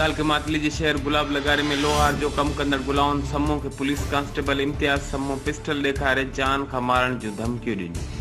تعلقي ماتلي جي شهر گلاب لغاري ۾ لوهار جو ڪم ڪندڙ گلاون سمون کي police constable Imtiaz Samoon pistol ڏيکاري جان کان مارڻ جون ڌمڪيون ڏنيون.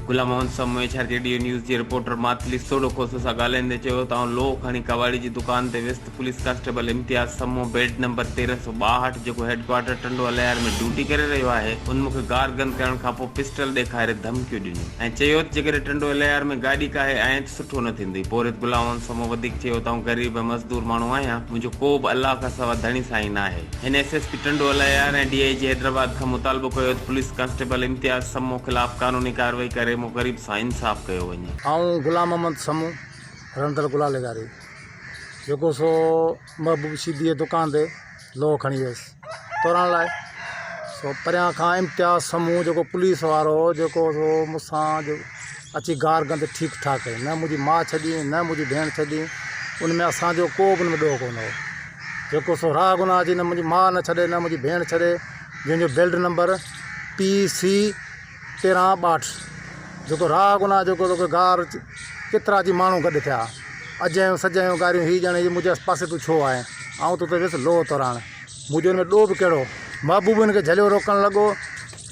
گلامون سمون ايڇ آر جي ڊيو نيوز جي رپورٽر ماتلي سوڍو کوسو سان ڳالهائيندي چيو ته آئون لوهه کڻي ڪٻاڙي جي دڪان تي ويس ته پوليس ڪانسٽيبل امتياز سمون بيڊ نمبر تيرنهن سؤ ٻاهٺ جيڪو head quarter Tando Allahyar ۾ duty ڪري رهيو آهي ان مونکي گار گند ڪرڻ کانپوء پسٽل ڏيکاري ڌمڪيون ڏنيون ۽ چيو ته جيڪڏهن ٽنڊو الهيار ۾ گاڏي ڪاهي آئين ته سٺو نه ٿيندئي پورهيت گلائون سمون وڌيڪ چيو ته آئون غريب ۽ مزدور ماڻهو آهيان منهنجو ڪوبه الله کان سوا ڌڻي سائين ناهي هن S S P Tando Allahyar ۽ D I G Hyderabad کان مطالبو ڪيو ته پوليس ڪانسٽيبل امتياز سمون خلاف قانوني ڪارروائي ڪري مون غريب سان انصاف ڪيو وڃي. آئون غلام محمد سمون رهندڙ گلالي گاري. جيڪو سو محبوب شيديء جي دڪان تي لوهه کڻي ويس تورڻ لاء سو پريان کان امتياز سمون جيڪو پوليس وارو هو جيڪو سو مون سان اچي گار گند ٺيڪ ٺاڪ ڪئي نه منهنجي ماء ڇڏي نه منهنجي ڀيڻ ڇڏي ان ۾ اسان جو ڪو به ڏوهه ڪونه هو جيڪو سو راهه گناهه جي نه منهنجي ماء نه ڇڏي نه منهنجي ڀيڻ ڇڏي جنهن جو بيلٽ نمبر پي سي تيرهن ٻاٽس جيڪو راهه گناهه جيڪو توکي گار ڪيترا جي ماڻهو گڏ ٿيا اجهيون سجهيون گاريون هي ڄڻ هي منهنجي پاسي تون ڇو آهين آئون توتي ويس لوهه توراڻ منهنجو ان ۾ ڏوهه به ڪهڙو محبوب هن کي جهليو روڪڻ لڳو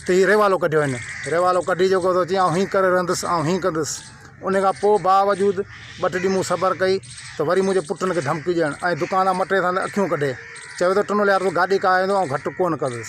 ته هي ريوالو ڪڍيو هن ريوالو ڪڍي جيڪو تو چيائون هين ڪري رهندس آئون هين ڪندس ان کان پوء باوجود ٻه ٽي ڏينهن مون صبر ڪئي ته وري منهنجي پٽن کي ڌمڪي ڏيڻ ۽ دڪان تان مٽي سان اکيون ڪڍي چيو ته ٽنوليار تون گاڏي ڪاهه ايندو آئون گهٽ ڪونه ڪندس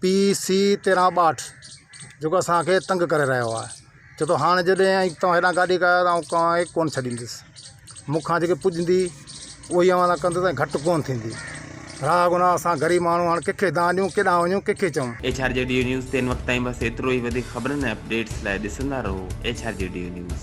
پي سي تيرهن ٻاهٺ جيڪو اسانکي تنگ ڪري رهيو آهي ڇو تو هاڻ جڏهن اي توهان هيڏانهن گاڏي ڪيا آهيو آئون توهان کي ڪون ڇڏيندس مونکان جيڪي پڄندي اهو ئي اوهان سان ڪندس ۽ گهٽ ڪون ٿيندي راء گناهه اسان غريب ماڻهو هاڻ ڪنهن کي دانهن ڏيون ڪيڏانهن وڃون ڪنهن کي چئون. ايڇ آر جي ڊيو نيوز تي هن وقت تائين بس ايترو ئي وڌيڪ خبرن ۽ اپڊيٽس لاء ڏسندا رهو ايڇ آر جي ڊيو نيوز.